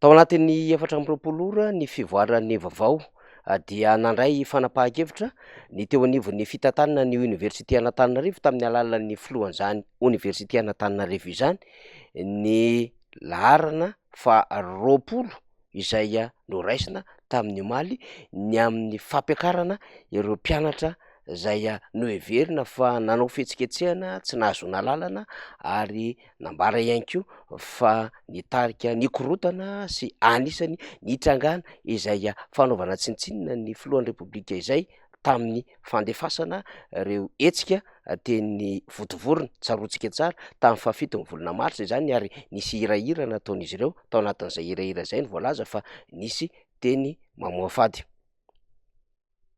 Tao anatin'ny efatra amby roapolo ora ny fivoaran'ny vaovao dia nandray fanapahan-kevitra ny teo anivon'ny fitantanana ny Oniversite an'Antananarivo tamin'ny alalan'ny filohan'izany Oniversite an'Antananarivo izany ny laharana faharoapolo izay noraisina tamin'ny omaly ny amin'ny fampiakarana ireo mpianatra izay noheverina fa nanao fihetsiketsehana tsy nahazoana alalana ary Nambara ihany koa fa nitarika nikorontana sy anisany nitrangana izay fanaovana tsinontsinona ny filohan'ny Repoblika izay tamin'ny fandefasana ireo hetsika teny Vontovorona, tsaroantsika tsara, tamin'ny fahafitony volana marsa izany ary nisy hirahira nataon'izy ireo, tao anatin'izay hirahira izay no voalaza fa nisy teny mamoafady.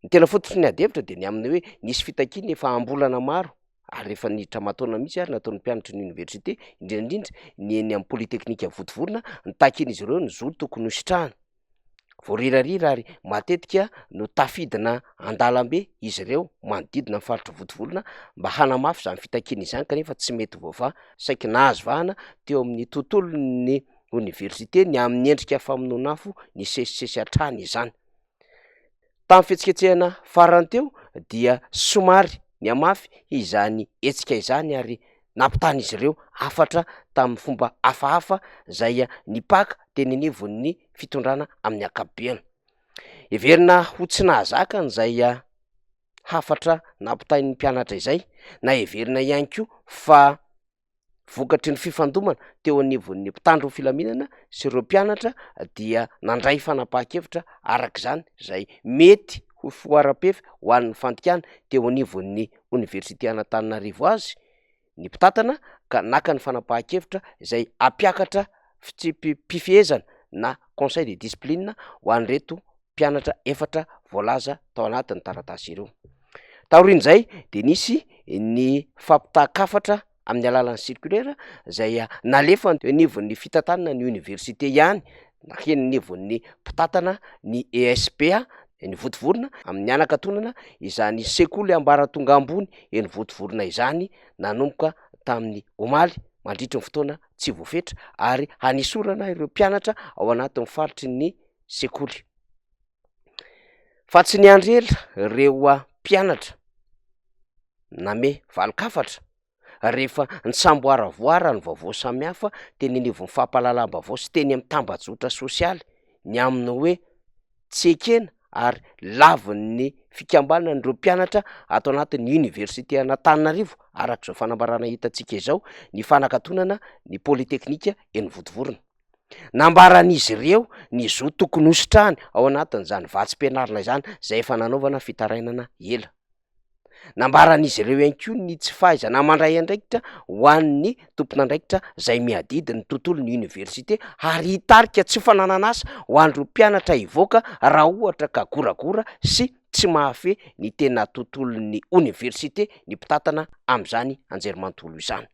ny tena fototry ny adihevitra dia ny amin'ny hoe nisy fitakiana efa am-bolana maro ary efa niditra aman-taonina mihitsy ary nataon'ny mpianatry ny oniversite, indrindra indrindra ny eny amin'ny polytechnique Votovorona, nitakian'izy ireo ny zo tokony hositrahana. Voarirarira ary matetika no tafidina an-dalambe izy ireo manodidina ny faritry Votovorona mba hanamafy izany fitakiana izany kanefa tsy mety voavaha, saiky nahazo vahana teo amin'ny tontolon'ny oniversite ny amin'ny endrika famonoan'afo nisesisesy hatrany izany. Tamin'ny fihetsiketsehana farany teo dia somary nihamafy izany hetsika izany ary nampitan'izy ireo hafatra tamin'ny fomba hafahafa izay nipaka teny anivon'ny fitondrana amin'ny ankapobeny. Heverina ho tsy nahazaka an'izay hafatra nampitain'ny mpianatra izay na heverina ihany koa fa vokatry ny fifandomana teo anivon'ny mpitandro ny filaminana sy ireo mpianatra dia nandray fanapahan-kevitra araka izany izay mety ho foara-pefy ho an'ny fandikana teo anivon'ny oniversite an'Antananarivo azy ny mpitantana ka naka ny fanapahan-kevitra izay hampiakatra fitsipi-pifehezana na conseil de discipline ho an'ireto mpianatra efatra voalaza tao anatin'ny taratasy ireo. Taorian'izay dia nisy ny fampitahan-kafatra amin'ny alalan'ny circulaire izay nalefa teo anivon'ny fitantanana ny oniversite ihany na heny anivon'ny mpitantana ny ESPA eny Votovorona amin'ny hanakatonana izany sekoly ambaratonga ambony eny Votovorona izany nanomboka tamin'ny omaly mandritry ny fotoana tsy voafetra ary hanesorana ireo mpianatra ao anatin'ny faritry ny sekoly. Fa tsy niandry ela ireo mpianatra name valin-kafatra rehefa nisamboaravoara ny vaovao samihafa teny anivon'ny fampahalalam-baovao sy teny amin'ny tambajotra sosialy ny amin'ny hoe tsy ekena ary lavin'ny fikambanana ireo mpianatra ato anatin'ny oniversite an'Antananarivo, araka izao fanambarana hitantsika izao, ny fanakatonana ny politeknika eny Vontovorona. Nambaran'izy ireo ny zo tokony hositrany ao anatin'izany vatsim-pianarana izany izay efa nanaovana fitarainana ela. Nambaran'izy ireo ihany koa ny tsy fahaizana mandray andraikitra ho an'ny tompon'andraikitra izay miadidy ny tontolon'ny oniversite ary hitarika tsy fananan'asa ho an'ireo mpianatra hivoaka raha ohatra ka goragora sy tsy mahafehy ny tena tontolon'ny oniversite ny mpitantana amin'izany anjerimanontolo izany.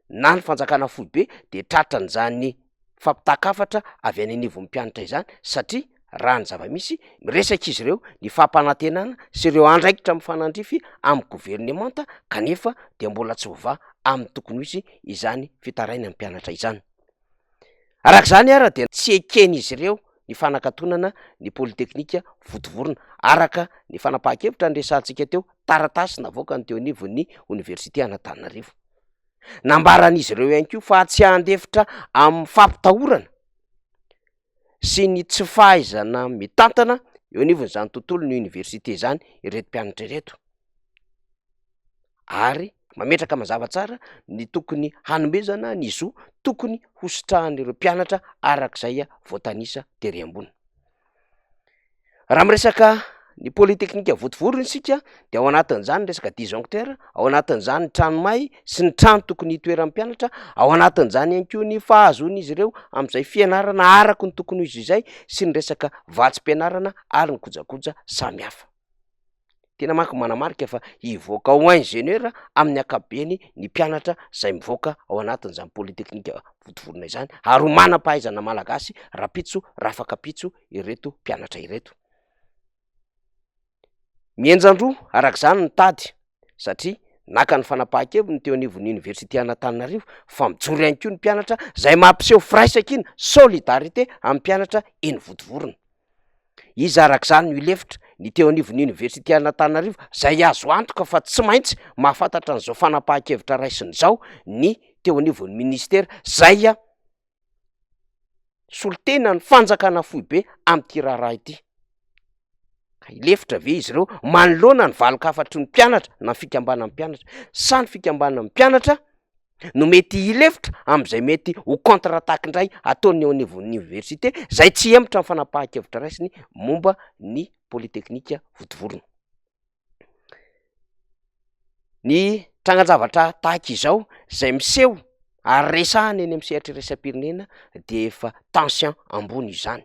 na ny fanjakana foibe de tratran'izany fampitaka hafatra avy any anivon'ny mpianatra izany satria raha ny zava-misy miresaka izy ireo ny fampanantenana sy ireo andraikitra mifanandrify amin'ny governemanta kanefa dia mbola tsy voavaha amin'ny tokony ho izy izany fitarainan'ny mpianatra izany. Araka izany ary dia tsy eken'izy ireo ny fanakatonana ny politeknika votovorona, araka ny fanapahan-kevitra niresahantsika teo, taratasy navoakany teo anivon'ny oniversite Anatananarivo. Nambaran'izy ireo ihany koa fa tsy handefitra amin'ny fampitahorana. sy ny tsy fahaizana mitantana eo anivon'izany tontolon'ny oniversite izany ireto mpianatra ireto ary mametraka mazava tsara ny tokony hanomezana ny zo tokony hositrahan'ireo mpianatra arak'izay voatanisa tery ambony. Raha miresaka ny pole teknika votovorona isika dia ao anatin'izany ny resaka disjoncteur, ao anatin'izany ny trano may sy ny trano tokony hitoeran'ny mpianatra, ao anatin'izany ihany koa ny fahazoan'izy ireo amin'izay fianarana araka ny tokony ho izy izay sy ny resaka vatsim-pianarana ary ny kojakoja samihafa. tena manko manamarika fa hivoaka ao ingénieur amin'ny ankapobeny ny mpianatra izay mivoaka ao anatin'izany polytechnique vontovorona izany ary ho manam-pahaizana malagasy rahampitso rafakapitso ireto mpianatra ireto mihenjan-droa araka izany ny tady satria naka ny fanapahan-keviny ny teo anivon'ny oniversité an'Antananarivo fa mijoro ihany koa ny mpianatra izay mampiseho firaisankina solidarité amin'ny mpianatra eny vontovorona Iza araka izany no hilefitra? Ny teo anivon'ny Oniversite an'Antananarivo, izay azo antoka fa tsy maintsy mahafantatra an'izao fanapahan-kevitra raisiny izao ny teo anivon'ny Ministera izay solontena ny fanjakana foibe amin'ity raharaha ity. Ka hilefitra ve izy ireo manoloana ny valin-kafatry ny mpianatra na ny fikambanan'ny mpianatra? Sa ny fikambanan'ny mpianatra no mety hilefitra amin'izay mety ho contre attaque indray ataony eo anivon'ny oniversite, izay tsy hemotra ny fanapahan-kevitra raisiny momba ny polytechnique vontovorona. Ny trangan-javatra tahaka izao izay miseho ary resahana eny amin'ny sehatry ny iraisam-pirenena dia efa tension ambony izany.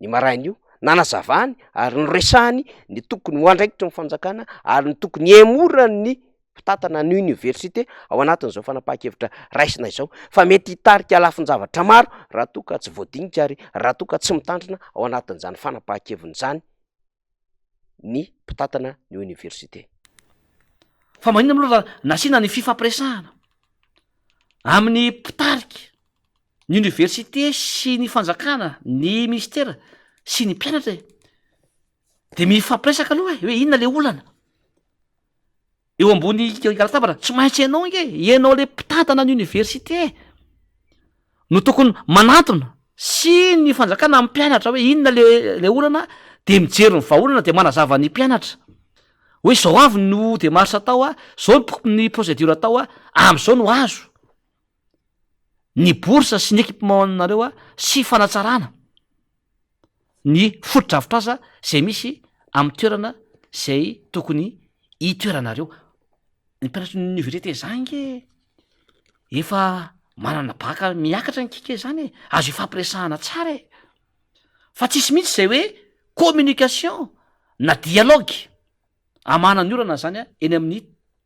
ny marain'io, nanazavany ary noresahany ny tokony ho andraikitry ny fanjakana ary ny tokony hihemoran'ny mpitantana ny oniversite ao anatin'izao fanapahan-kevitra raisina izao fa mety hitarika lafin-javatra maro raha toa ka tsy voadinika ary raha toa ka tsy mitandrina ao anatin'izany fanapahan-keviny izany ny mpitantana ny oniversite. Fa maninona moa raha nasiana ny fifampiresahana amin'ny mpitarika ny oniversite sy ny fanjakana ny ministera sy ny mpianatra e? De mifampiresaka aloha e, hoe inona le olana? eo ambony latabatra, tsy maintsy ianao ange, ianao ilay mpitantana ny oniversite no tokony manantona sy ny fanjakana amin'ny mpianatra hoe inona ilay olana dia mijery ny vahaolana dia manazava ny mpianatra hoe izao avy no demarche atao a, izao ny procédure atao a, amin'izao no azo ny bourse sy ny équipement anareo a sy fanatsarana. ny fotodrafitrasa izay misy amin'ny toerana izay tokony hitoeranareo. Ny mpianatry ny oniversite zah ange efa manana bacc miakatra ny kika izany e, azo ifampiresahana tsara e! fa tsisy mihitsy izay hoe communication na dialogue. Hamahana ny orana izany eny amin'ny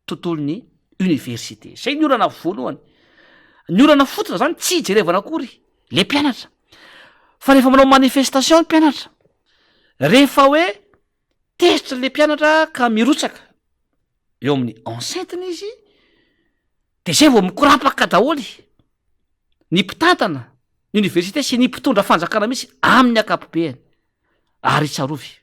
tontolon'ny oniversite. Izay ny orana voalohany. Ny orana fototra izany tsy hijerevana akory le mpianatra. Fa rehefa manao manifestation ny mpianatra, rehefa hoe tezitra le mpianatra ka mirotsaka eo amin'ny enceinte-ny izy, dia izay vao mikorapaka daholo ny mpitantana ny oniversite sy ny mpitondra fanjakana mihitsy amin'ny ankapobeany. Ary tsarovy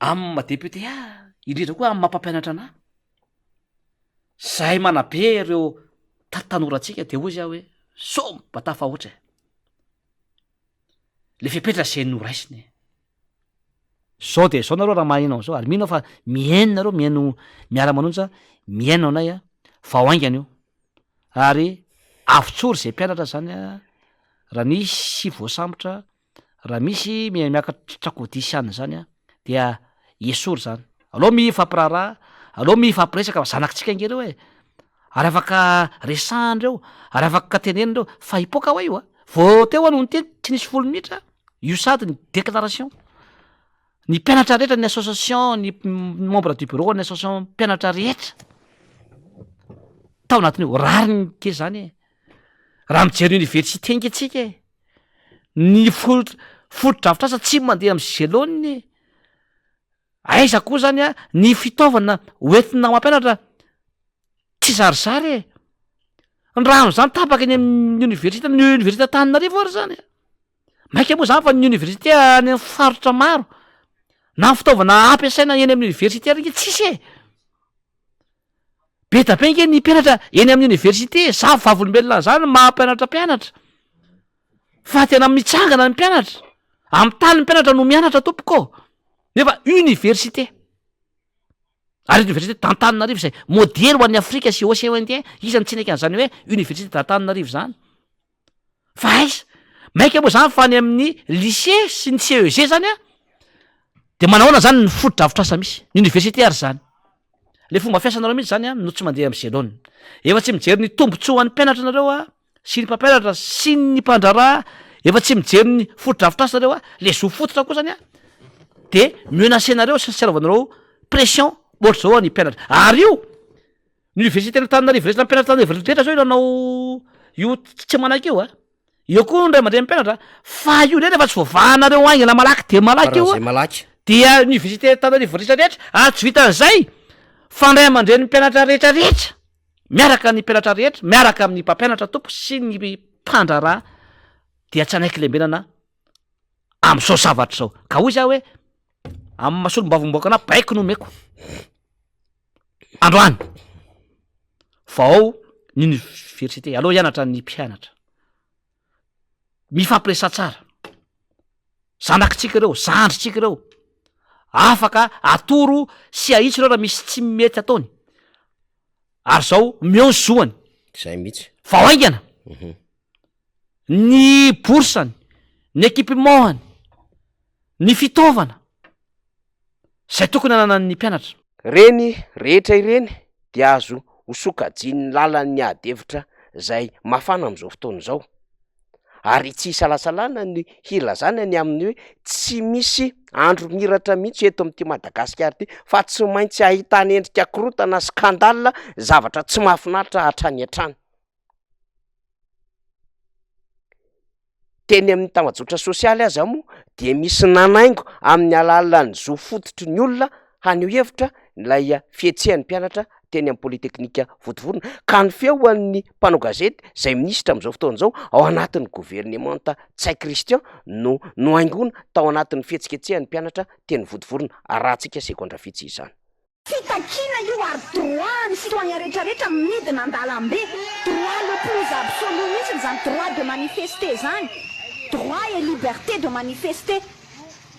amin'ny maha député ahy, indrindra koa amin'ny maha mpampianatra anah, zahay manabe ireo ta tanorantsika dia hoy zah hoe somme mba tafahoatra e! le fepetra zay noraisina e! Zao dia zao nareo raha maheno an'izao ary mino aho fa mihaino nareo mihaino miara manonja mihaino anay a! vao haingana io ary avotsory zay mpianatra zany a! raha nisy voasambotra Raha misy miha miakatra trakodia sy anona zany dia esory zany, aleo miha ifampiraharaha, aleo miha ifampiresaka fa zanakitsika ange reo e, ary afaka resahany reo, ary afaka teneniny reo, fa hipoka hoa io a, vao teo aho no niteny tsy nisy folo minitra io sady ny déclaration ny mpianatra rehetra ny association ny membre du bureau ny association mpianatra rehetra tao anatin'io, rariny kely zany e, raha mijery université ange tsika e. Ny fotodrafitrasa tsy mandeha amin'ny gelone e! Aiza koa izany an! Ny fitaovana hoentina mampianatra tsizarizary e! Ny rano izany tapaka eny amin'ny oniversite, ny oniversite Antananarivo ary izany an! Mainka moa izany fa ny oniversite any amin'ny faritra maro na ny fitaovana ampiasaina eny amin'ny oniversite ary ange tsisy e! Be da be ange ny mpianatra eny amin'ny oniversite e! Za vavolombelona an'izany ny maha mpianatra mpianatra. Fa tena mitsangana ny mpianatra. Amin'ny tany ny mpianatra no mianatra tompoko ô! Nefa oniversite. Ary eto oniversite d'Antananarivo izay modely ho an'ny Afrika sy Océan Indien, iza no tsy hineky an'izany hoe oniversite d'Antananarivo izany. Fa aiza? Maika moa zany fa any amin'ny lycée sy ny CEG zany an, de manao ahoana zany ny fotodrafitrasa misy? Ny université ary zany. Le fomba fiasanareo mihitsy zany an no tsy mandeha amin'ny selon. Efa tsy mijery ny tombotsoa ho an'ny mpianatra nareo an, sy ny mpampianatra sy ny mpandraharaha, efa tsy mijery ny fotodrafitrasa nareo an, le zo fototra koa zany an, de menacer-nareo sy ny seraovanareo pression ohatr'izao an ny mpianatra. Ary io, Ny Oniversiten'Antananarivo Resy Nampianatran'ireo Velondrehetra izao io nanao io tsy manaiky io a! Eo koa ny ray aman-drenin'ny mpianatra a! Fa io indray rehefa tsy voavahanareo haingana malaky dia malaky io a! Faran'izay malaky. Dia Oniversiten'Antananarivo rehetra rehetra ary tsy vitan'izay fa ny ray aman-drenin'ny mpianatra rehetra rehetra miaraka ny mpianatra rehetra miaraka amin'ny mpampianatra tompo sy ny mpandraharaha dia tsy hanaiky lembenana amin'izao zavatra izao! Ka hoy za hoe amin'ny maha solombavambahoaka anah baiko ny omeko. androany vao ao ny université aleo hianatra ny mpianatra mifampiresa tsara zanakitsika ireo zandritsika ireo afaka atoro sy ahitsy ireo raha misy tsy mety ataony ary zao meo ny zoany zay mihitsy vao aingana mhm. ny boursany ny équipement-any ny fitaovana izay tokony hananan'ny mpianatra. Ireny rehetra ireny dia azo hosokajian'ny lalan'ny ady hevitra izay mafana amin'izao fotoana izao, ary tsy isalasalana ny hilazana ny amin'ny hoe tsy misy andro miratra mihitsy eto amin'ity Madagasikara ity fa tsy maintsy ahitana endrika korontana, scandale, zavatra tsy mahafinaritra hatrany hatrany. Teny amin'ny tambajotra sosialy aza moa dia misy nanaingo amin'ny alalan'ny zo fototry ny olona haneho hevitra ilay fihetsehan'ny mpianatra teny amin'ny Polytechnique Vontovorona ka ny feon'ny mpanao gazety izay minisitra amin'izao fotoana izao ao anatin'ny governemanta Ntsay Christian no nohaingoina tao anatin'ny fihetsiketsehan'ny mpianatra teny Vontovorona, arahantsika segondra vitsy izany. Fitakiana io ary droit an'ny citoyen rehetra rehetra midina andalambe, droit le plus absolu mihitsiny izany droit de manifester izany, droit et liberté de manifester.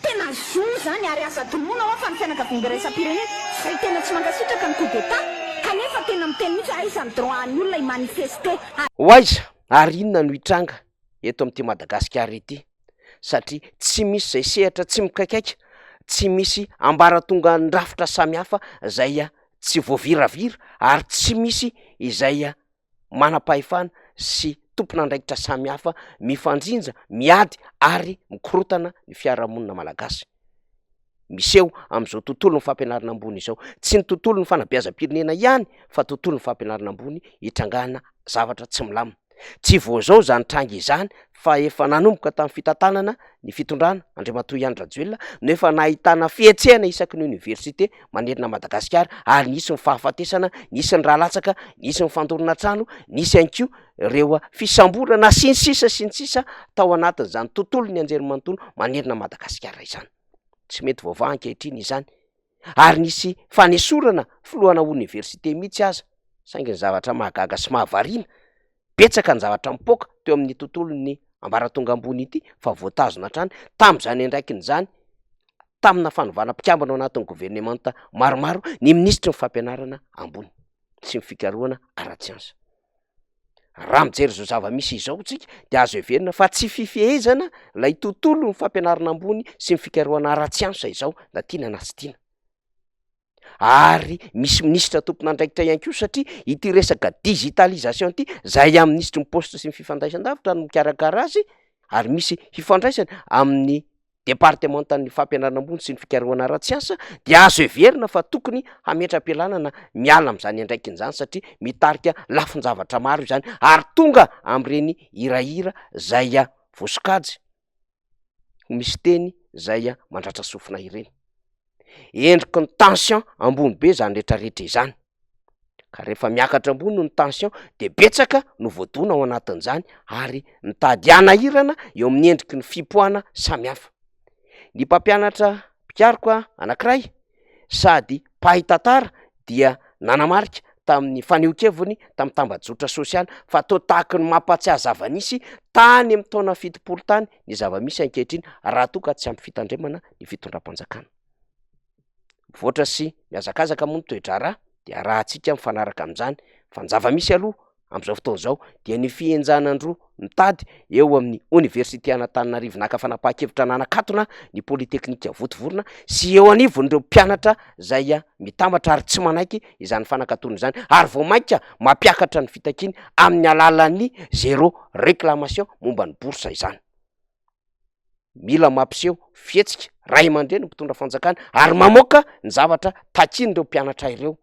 Tena zo izany ary aza adinoina hoa fa ny fianakaviambe iraisam-pirenena izay tena tsy mankasitraka ny coup d'Etat kanefa tena miteny mihitsy hoe aiza ny droit an'ny olona hi-manifester, Ho aiza ary inona no hitranga eto amin'ity Madagasikara ity satria tsy misy izay sehatra tsy mikaikaika, tsy misy ambaratongan-drafitra samihafa izay tsy voaviravira ary tsy misy izay manam-pahefana sy tompon'andraikitra samihafa mifandrinja, miady ary mikorotana ny fiarahamonina malagasy. miseho amin'izao tontolon'ny fampianarana ambony izao. Tsy ny tontolon'ny fanabeazam-pirenena ihany fa tontolon'ny fampianarana ambony itrangana zavatra tsy milamina. Tsy vao izao izany tranga izany fa efa nanomboka tamin'ny fitantanana ny fitondrana Andriamatoa Ihany Rajoelina no efa nahitana fihetsehana isaky ny oniversite manerana Madagasikara ary nisy ny fahafatesana, nisy ny ra latsaka, nisy ny fandorana trano, nisy ihany koa ireo fisamborana sy ny sisa sy ny sisa tao anatin'izany tontolon'ny anjerimanontolo manerana an'i Madagasikara izany. Tsy mety voavaha ankehitriny izany ary nisy fanesorana filohana oniversite mihitsy aza, saingy ny zavatra mahagaga sy mahavariana, betsaka ny zavatra mipoaka teo amin'ny tontolon'ny ambaratonga ambony ity fa voatazona hatrany tamin'izany andraikiny izany, tamina fanovana mpikambana ao anatin'ny governemanta maromaro ny minisitry ny fampianarana ambony sy ny fikarohana ara-tsiansa. Raha mijery izao zava-misy izao tsika dia azo heverina fa tsy fifehezana ilay tontolon'ny fampianarana ambony sy ny fikarohana ara-tsiansa izao na tiana na tsy tiana, ary misy minisitra tompon'andraikitra ihany koa satria ity resaka digitalisation ity izay amin'ny minisitry ny paositra sy ny fifandraisan-davitra no mikarakara azy ary misy hifandraisany amin'ny Departemantan'ny Fampianarana Ambony sy ny Fikarohana Ara-tsiansa dia azo heverina fa tokony hametra-pialana na miala amin'izany andraikiny izany satria mitarika lafin-javatra maro izany ary tonga amin'ireny hirahira izay voasokajy ho misy teny izay mandratra sofina ireny. endriky ny tension ambony be zany rehetra rehetra izany, ka rehefa miakatra ambony ny tension de betsaka no voadona ao anatin'izany ary mitady hanahirana eo amin'ny endriky ny fipoahana samy hafa. Ny mpampianatra mpikaroka anankiray sady mpahay tantara dia nanamarika tamin'ny fanehoan-keviny tamin'ny tambajotra sosialy fa toa tahaky ny mampahatsiahy zava-nisy tany amin'ny taona fitopolo tany ny zava-misy ankehitriny raha toa ka tsy ampy fitandremana ny fitondram-panjakana. Mivoatra sy mihazakazaka moa ny toe-draharaha dia arahantsika mifanaraka amin'izany fa ny zava-misy aloha amin'izao fotoana izao dia ny fihenjanan-droa mitady eo amin'ny oniversite an'Antananarivo naka fanapahan-kevitra nanakatona ny polytechnika votovorona sy eo anivon'ireo mpianatra izay mitambatra ary tsy manaiky izany fanakatona izany ary vao mainka mampiakatra ny fitakiany amin'ny alalan'ny zéro réclamation momba ny bourse izany. mila mampiseho fihetsika ray aman-dreny ny mpitondra fanjakana ary mamoaka ny zavatra takian'ireo mpianatra ireo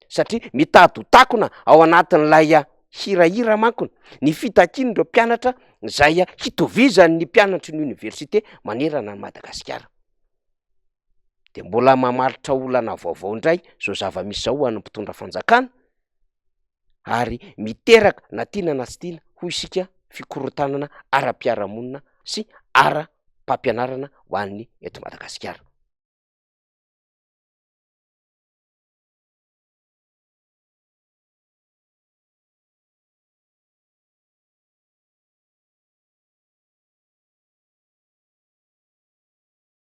satria mitady ho takona ao anatin'ilay ah, hirahira manko ny fitakian'ireo mpianatra izay ah, hitovizan'ny mpianatry ny oniversite manerana an'i Madagasikara. de mbola mamaritra olana vaovao indray zao zava-misy zao ho an'ny mpitondra fanjakana, ary miteraka na tiana na tsy tiana hoy isika fikorontanana ara-piarahamonina sy ara-pampianarana ho an'ny eto Madagasikara.